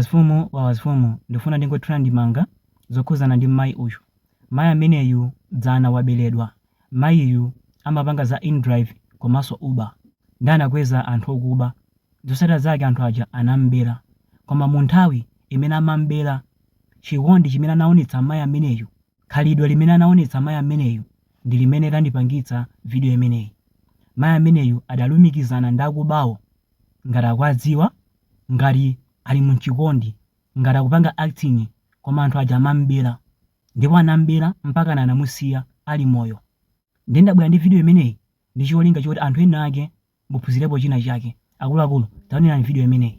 Mfumu ya mafumu ndikufuna ndingothira ndemanga zokhuzana ndi mmayi uyu. Mayi ameneyu dzana wabeledwa. Mayiyu amapanga za indrive komanso uber. Nde anakweza anthu okuba. Zotsatira zake anthu aja anamubera. Koma munthawi imene amamubera chikondi chimene anaonetsa mayi ameneyu, khalidwe limene anaonetsa mayi ameneyu ndi limene landipangitsa video imeneyi. Mayi ameneyu adalumikizana ndi akubawo ngati akuwadziwa ngati ali mu chikondi ngati akupanga acting koma anthu aja amam'bela ndipo anam'bela mpakana anamusiya ali moyo nde ndabwera ndi video imeneyi ndi cholinga choti anthu ena ake muphunzirepo china chake akuluakulu taonerani video imeneyi.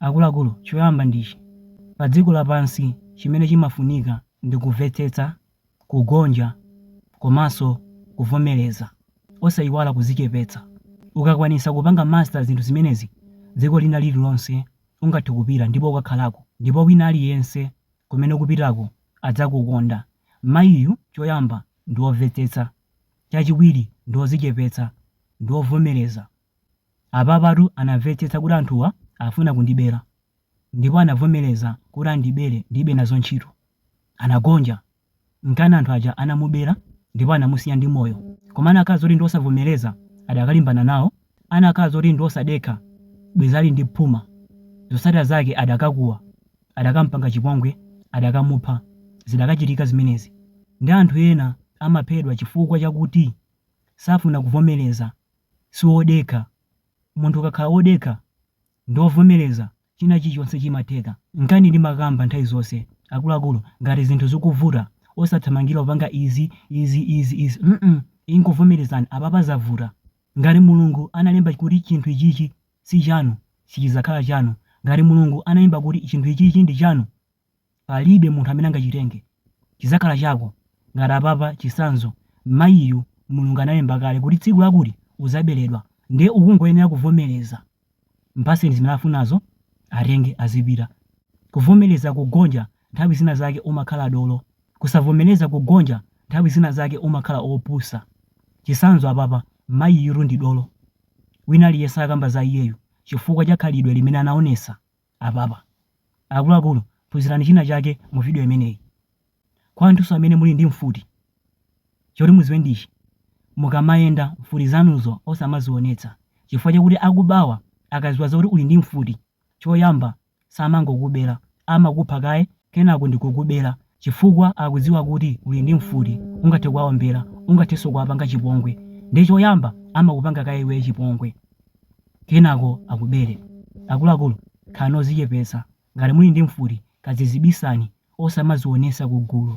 Akuluakulu, choyamba ndi ichi, padziko lapansi chimene chimafunika ndi kumvetsetsa, kugonja komanso kuvomereza. Osayiwala kuzichepetsa. Ukakwanitsa kupanga master zinthu zimenezi, dziko lina lililonse ungathe kupita ndipo ukakhalako ndipo wina aliyense kumene ukupitako adzakukonda. Mayiyu choyamba ndi womvetsetsa, chachiwiri ndi wozichepetsa ndi wovomereza. Apapatu anamvetsetsa kuti anthuwa afuna kundibela ndipo anavomeleza kuti andibele ndilibe nazo ntchito. Anagonja. Nchifukwa anthu aja anamubela ndipo anamusiya ndi moyo koma anakhala zoti ndi osavomeleza adakalimbana nawo anakhala zoti ndi osadekha bwezi ali ndi phuma zosatila zake adakakuwa adakampanga chipongwe adakamupha zidakachitika zimenezi ndi anthu ena amaphedwa chifukwa chakuti safuna kuvomeleza si wodekha. Munthu ukakhala wodekha ndi wovomereza, china chilichonse chimatheka. Nkana ndimakamba nthawi zonse, akuluakulu, ngati zinthu zikuvuta, osathamangira kupanga izi, izi, izi, izi, mm ingovomerezani apapa zavuta. Ngati Mulungu analemba kuti chinthu ichichi si chanu, sichidzakhala chanu. Ngati Mulungu analemba kuti chinthu ichichi ndi chanu, palibe munthu amene angachitenge, chidzakhala chako. Ngati apapa, chitsanzo, mayiyu Mulungu analemba kale kuti tsiku lakuti udzaberedwa, ndiye ukungoyenera kuvomereza. Mpatseni zimene afunazo, atenge, azipita. Kuvomereza kugonja nthawi zina zake umakhala dolo. Kusavomereza kugonja nthawi zina zake umakhala opusa. Chitsanzo apapa, mayiyutu ndi dolo. Wina aliyense akamba za iyeyu chifukwa cha khalidwe limene anaonetsa. apapa. Akuluakulu, phunzirani china chake mu video imeneyi. Kwa anthunso amene muli ndi mfuti, choti muziwe ndi ichi, mukamayenda mfuti zanuzo osamazionetsa chifukwa chakuti akubawa akaziwa zakuti uli ndi mfuti, choyamba samangokubera, amakupha kaye kenako ndikukubela chifukwa akudziwa kuti uli ndi mfuti ungathe kuwaombela ungathenso kuwapanga chipongwe nde choyamba amakupanga kaye iweyo chipongwe kenako akubele. Akuluakulu khalani ozichepetsa ngati muli ndi mfuti kadziibisani osamazionetsa kugulu.